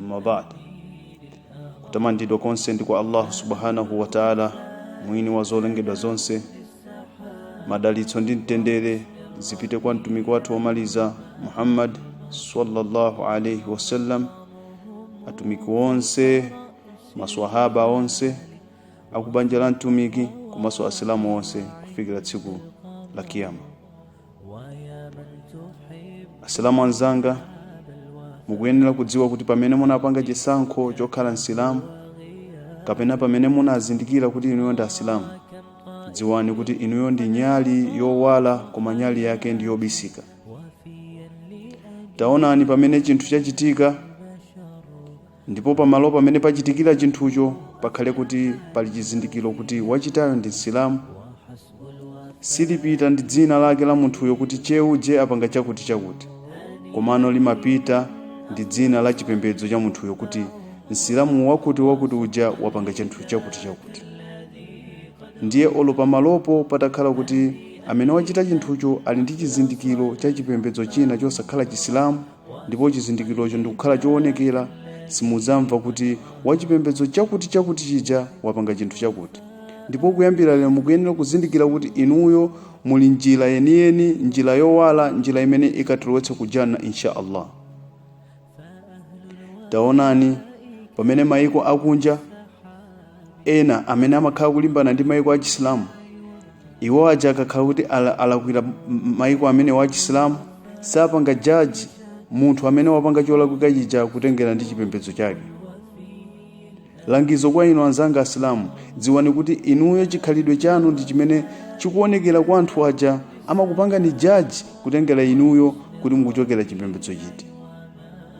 amma ba'd kutamandidwa konse ndi kwa allahu subhanahu wa taala mwini wa zolengedwa zonse madalitso ndi mtendere zipite kwa mtumiki wathu womaliza muhammad sallallahu alaihi wasallam atumiki onse maswahaba onse akubanja la mtumiki komanso asilamu onse kufikira tsiku la kiyama asilamu anzanga mukuyenera kudziwa kuti pamene munapanga chisankho chokhala msilamu kapena pamene munazindikira kuti inuyo ndi asilamu dziwani kuti inuyo ndi nyali yowala koma nyali yake ndi yobisika taonani pamene chinthu chachitika ndipo pamalo pamene pachitikira chinthucho pakhale kuti pali chizindikiro kuti wachitayo ndi msilamu silipita ndi dzina lake la munthuyo kuti che uje apanga chakuti chakuti komano limapita ndi dzina la chipembedzo cha munthuyo kuti msilamu wakuti wakuti uja wapanga chinthu chakuti chakuti ndiye olo pamalopo patakhala kuti amene wachita chinthucho ali ndi chizindikiro cha chipembedzo china chosakhala chisilamu ndipo chizindikirocho ndikukhala choonekera simudzamva kuti wachipembedzo chakuti chakuti chija wapanga chinthu chakuti ndipo kuyambira lero mukuyenera kuzindikira kuti inuyo muli njira yeniyeni njira yowala njira imene ikatilowetsa ku janna insha allah taonani pamene maiko akunja ena amene amakhala kulimbana ndi maiko a chisilamu iwo aja akakhala kuti ala- alakwira m- maiko amenewa a chisilamu sapanga jaji munthu amene wapanga cholakwika chija kutengera ndi chipembedzo chake langizo kwa inu anzanga asilamu dziwani kuti inuyo chikhalidwe chanu ndi chimene chikuonekera kwa anthu aja amakupangani jaji kutengera inuyo kuti mukuchokera chipembedzo chiti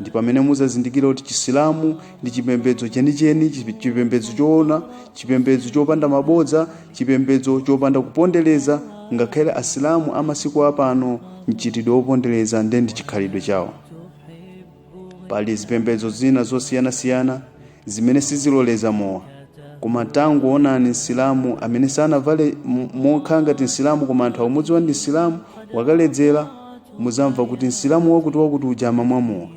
ndi pamene muzazindikira kuti chisilamu ndi chipembedzo chenicheni chi- chipembedzo choona chipembedzo chopanda mabodza chipembedzo chopanda kupondereza ngakhale asilamu amasiku apano mchitidwe wopondereza nde ndi chikhalidwe chawo pali zipembedzo zina zosiyanasiyana zimene siziloleza mowa koma tangoonani msilamu amene sanavale m- mokhala ngati msilamu koma anthu aumudziwa ndi msilamu wakaledzera muzamva kuti msilamu wakuti wakuti uja amamwa mowa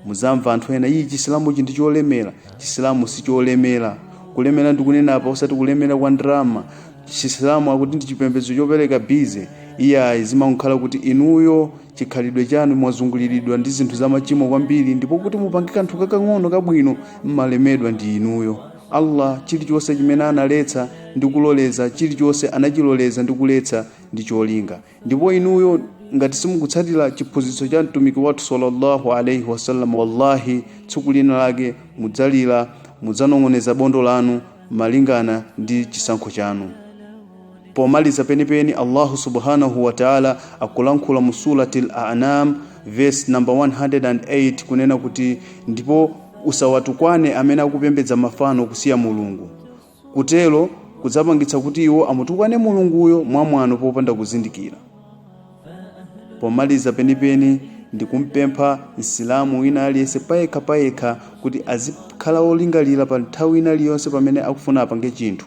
muzamva anthu ena iyi chisilamuchi ndi cholemera chisilamu si cholemera kulemera ndikunena apa osati kulemera kwa ndalama chisilamu akuti ndi chipembedzo chopereka bize iyayi zimakhala kuti inuyo chikhalidwe chanu mwazunguliridwa ndi zinthu zamachimo kwambiri ndipo kuti mupange kanthu kakang'ono kabwino mmalemedwa ndi inuyo allah chilichonse chimene analetsa ndi kuloleza chilichonse anachiloleza ndi kuletsa ndi cholinga ndipo inuyo ngati simukutsatira chiphunzitso cha mtumiki wathu sallallahu alaihi wasallam wallahi tsiku lina lake mudzalira mudzanong'oneza bondo lanu malingana ndi chisankho chanu Pomaliza penipeni Allahu subhanahu wa ta'ala akulankhula mu surati al-An'am verse number 108 kunena kuti ndipo usawatukwane amene akupembedza mafano kusiya Mulungu kutero kudzapangitsa kuti iwo amutukwane Mulunguyo mwamwano popanda kuzindikira pomaliza penipeni ndikumpempha msilamu wina aliyense payekha payekha kuti azikhala wolingalira pa nthawi ina iliyonse pamene akufuna apange chinthu